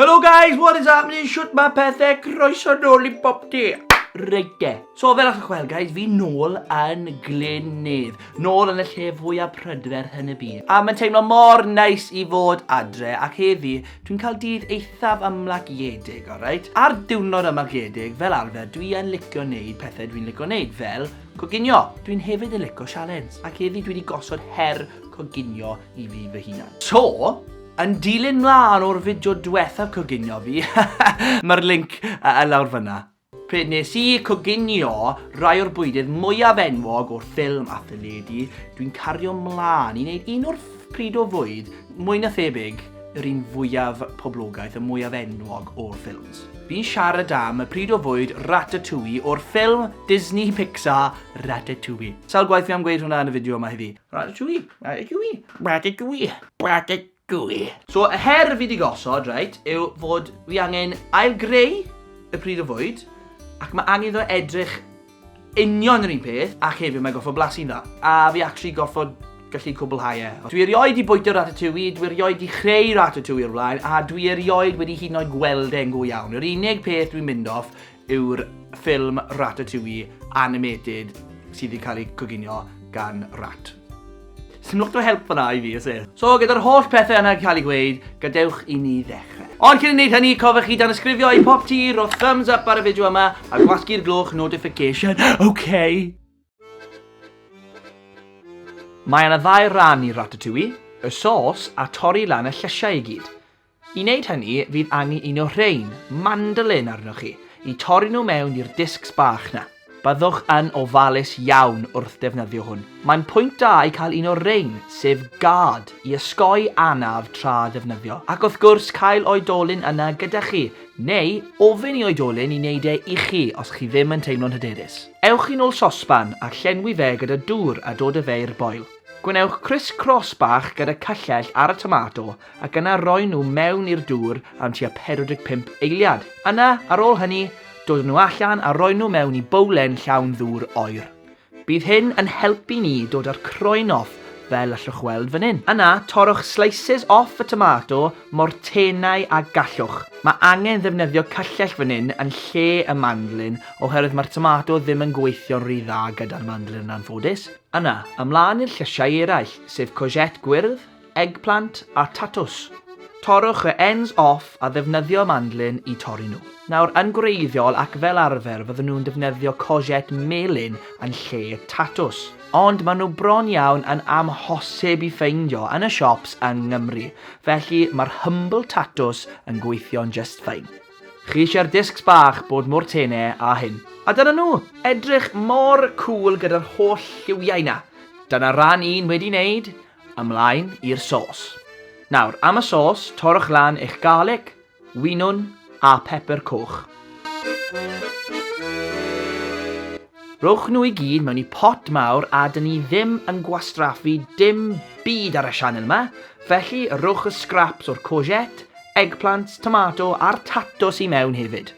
Hello guys, what is happening? Shwt mae pethau croeso nôl i bob di? Reit de. So fel a'ch gweld guys, fi nôl yn Glynnydd. Nôl yn y lle fwyaf prydferth yn y byd. A mae'n teimlo mor neis i fod adre ac heddi Dwi'n cael dydd eithaf ymlaciedig, alright? Ar diwrnod ymlaciedig, fel arfer, dwi yn licio neud pethau dwi'n licio neud, fel coginio. Dwi'n hefyd yn licio sialens, ac heddi dwi wedi gosod her coginio i fi fy hunan. So, yn dilyn mlaen o'r fideo diwethaf coginio fi, mae'r link y lawr fyna. Pryd nes i coginio rai o'r bwydydd mwyaf enwog o'r ffilm a theledu, dwi'n cario mlân i wneud un o'r pryd o fwyd mwy na thebyg yr un fwyaf poblogaidd, y mwyaf enwog o'r ffilms. Fi'n siarad am y pryd o fwyd Ratatouille o'r ffilm Disney Pixar Ratatouille. Sawl gwaith fi am gweud hwnna yn y fideo yma heddi? Ratatouille! Ratatouille! Ratatouille! Ratatouille! Gwy. So y her fi 'di gosod, reit, yw fod fi angen ail-greu y pridd o fwyd, ac ma' angen iddo edrych union yr un peth, ac hefyd mae'n gorfod blasu'n dda. A fi actually gorfod gallu cwblhau e. Dwi erioed 'di bwyta ratatouille, dwi erioed 'di chreu ratatouille o'r blaen, a dwi erioed wedi hyd yn oed gweld e'n go iawn. Yr unig peth dwi'n mynd off yw'r ffilm Ratatouille animated sydd wedi cael ei coginio gan rat. Sdim lot o help fanna i fi, oes e? So, gyda'r holl pethau yna cael ei gweud, gadewch i ni ddechrau. Ond cyn i wneud hynny, cofiwch chi dan ysgrifio i pop ti, roedd thumbs up ar y fideo yma, a gwasgu'r gloch notification, okay? Mae yna ddau ran i Ratatouille, y sos a torri lan y llysiau i gyd. I wneud hynny, fydd angen un o rhein, mandolin, arnoch chi, i torri nhw mewn i'r discs bach 'na. Byddwch yn ofalus iawn wrth ddefnyddio hwn. Mae'n pwynt da i cael un o rein, sef gad i ysgoi anaf tra ddefnyddio, ac wrth gwrs cael oedolyn yna gyda chi, neu ofyn i oedolyn i wneud e i chi os chi ddim yn teimlo'n hyderus. Ewch i nôl sosban a llenwi fe gyda dŵr a dod â fe i'r boil. Gwnewch criss-cross bach gyda cyllell ar y tomato ac yna roi nhw mewn i'r dŵr am tua 45 eiliad. Yna, ar ôl hynny, dod nhw allan a roi nhw mewn i bowlen llawn ddŵr oer. Bydd hyn yn helpu ni dod â'r croen off fel allwch weld fan hyn. Yna, torrwch slices off y tomato mor tenau â gallwch. Mae angen ddefnyddio cyllell fan hyn yn lle y mandlin oherwydd mae'r tomato ddim yn gweithio'n rhy dda gyda'r mandlin yn anffodus. Yna, ymlaen i'r llysiau eraill, sef courgette gwyrdd, eggplant a tatws. Torrwch y ends off a ddefnyddio mandlin i torri nhw. Nawr, yn gwreiddiol ac fel arfer fydden nhw'n defnyddio courgette melyn yn lle tatws. Ond maen nhw bron iawn yn amhosib i ffeindio yn y siops yng Nghymru, felly mae'r humble tatws yn gweithio'n just fine. Chi eisiau'r discs bach bod mor tene â hyn. A dyna nhw! Edrych mor cŵl gyda'r holl lliwiau 'na. Dyna ran un wedi 'neud, Ymlaen i'r sôs. Nawr, am y sôs, torrwch lan eich garlic, winwn a phepr coch. Rhowch nhw i gyd mewn i pot mawr a dyn ni ddim yn gwastraffu dim byd ar y sianel yma, felly rhowch y scraps o'r courgette, eggplants, tomato a'r tatws i mewn hefyd.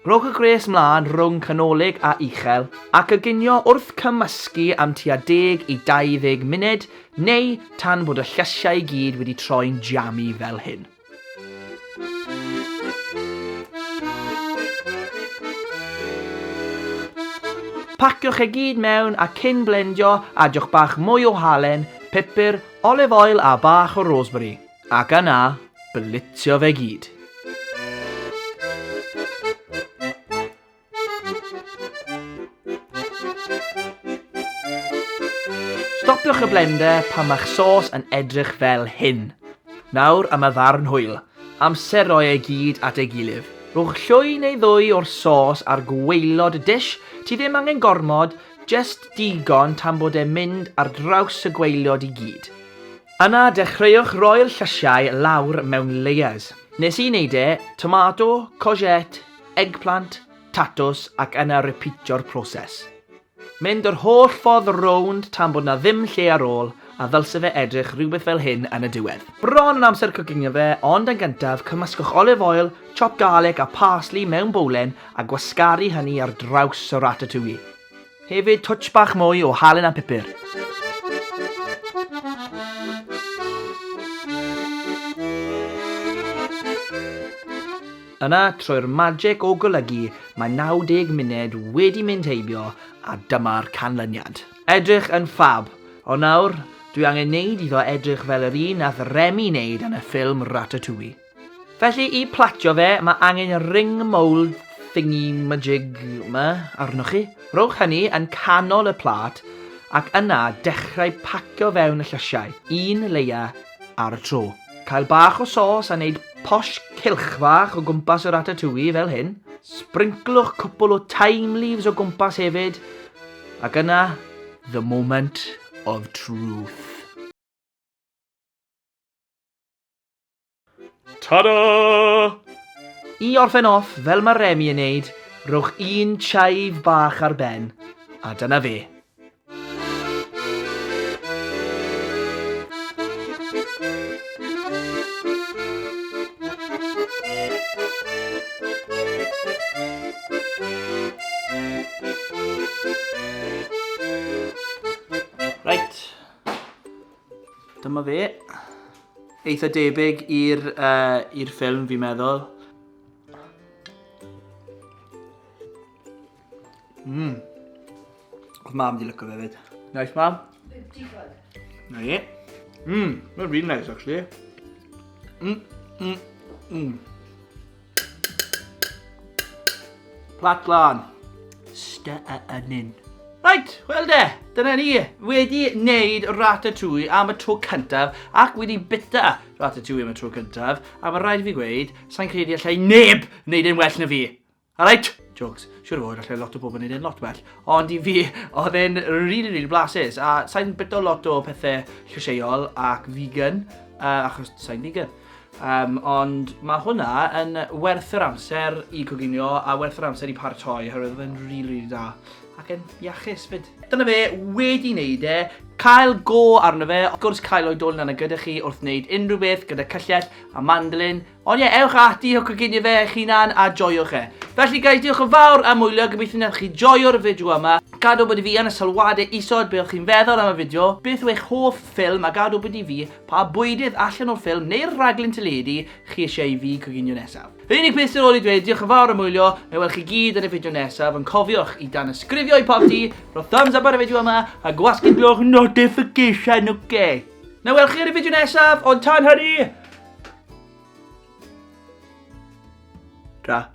Rhowch y gwres mlaen rhwng canolig a uchel ac y ginio wrth cymysgu am tua deg i 20 munud neu tan bod y llysiau i gyd wedi troi'n jami fel hyn. Paciwch e gyd mewn a cyn blendio, adiwch bach mwy o halen, pupur, olive oil a bach o rosemary. Ac yna, bylitio fe gyd. Stopiwch y blender pan mae'ch sos yn edrych fel hyn. Nawr am y ddarn hwyl. Amser roi ei gyd at ei gilydd. Rhowch llwy neu ddwy o'r sos ar gwaelod y dish, ti ddim angen gormod, jest digon tan bod e'n mynd ar draws y gwaelod i gyd. Yna dechreuwch roi'r llysiau lawr mewn layers. Nes i neud e, tomato, courgette, eggplant, tatws ac yna ripîtio'r proses. Mynd yr holl ffordd rownd tan bod 'na ddim lle ar ôl a ddylse fe edrych rhywbeth fel hyn yn y diwedd. Bron yn amser cwcinio fe ond yn gyntaf cymysgwch olive oil, chopped garlic a parsley mewn bowlen a gwasgaru hynny ar draws y ratatouille. Hefyd twtsh bach mwy o halen a pupur. Yna, trwy'r magic o golygu, mae 90 munud wedi mynd heibio a dyma'r canlyniad. Edrych yn ffab! Ond nawr, dwi angen neud iddo edrych fel yr un nath Remi neud yn y ffilm Ratatouille. Felly i platio fe, mae angen y ring mould thingy majig ma arnoch chi. Rhowch hynny yn canol y plat ac yna dechrau pacio fewn y llysiau, un leia ar y tro. Cael bach o sos a wneud posh cylch fach o gwmpas y ratatouille fel hyn. Sbringlwch cwpl o thyme leaves o gwmpas hefyd, ac yna the moment of truth. Tada! I orffen off fel mae Remi yn neud, rhowch un chive bach ar ben, a dyna fe. Right. Dyma fe. Eitha debyg i'r uh, i'r ffilm fi'n meddwl. Mmm. Oedd mam di lyco fe fyd. Nice mam. Digon. Na i. Mmm, mae'n really nice actually. Mmm, mmm, mmm. Plat lan. Sta a anyn. Right, wel de, dyna ni, wedi wneud ratatouille am y tro cyntaf ac wedi bita ratatouille am y tro cyntaf a mae rhaid i fi gweud, sa'n credu allai neb wneud e'n well na fi. Alright? Jokes, siwr fod allai lot o bobl wneud e'n lot well, ond i fi, oedd e'n really, really blasus a sa'n bita lot o pethau llysieuol ac vegan, uh, achos sa'n vegan. Um, ond mae hwnna yn werth yr amser i coginio a werth yr amser i paratoi, herwydd oedd e'n rili, really, really da. Ac yn iachus fyd. Dyna fe, wedi wneud e, cael go arno fe, wrth gwrs cael o'i dol yna gyda chi wrth wneud unrhyw beth gyda cyllell a mandolin. Ond ie, yeah, ewch ati o coginio fe eich hunan a joiwch e. Felly guys, diolch yn fawr am wylio, gobeithio wnaeth chi joio'r fideo yma. Gadw bod i fi yn y sylwadau isod beth chi'n feddwl am y fideo, beth yw eich hoff ffilm a gadw bod i fi Pa bwydydd allan o'r ffilm neu'r rhaglen teledu chi eisiau i fi coginio nesaf? Yr unig beth sydd ar ôl i ddweud diolch yn fawr am wylio, na i weld chi gyd yn y fideo nesaf, ond cofiwch i danysgrifio i Popty, rho thumbs up ar y fideo yma, a gwasgu'r gloch notification, ok? Na i weld chi yn y fideo nesaf, ond tan hynny! Ta.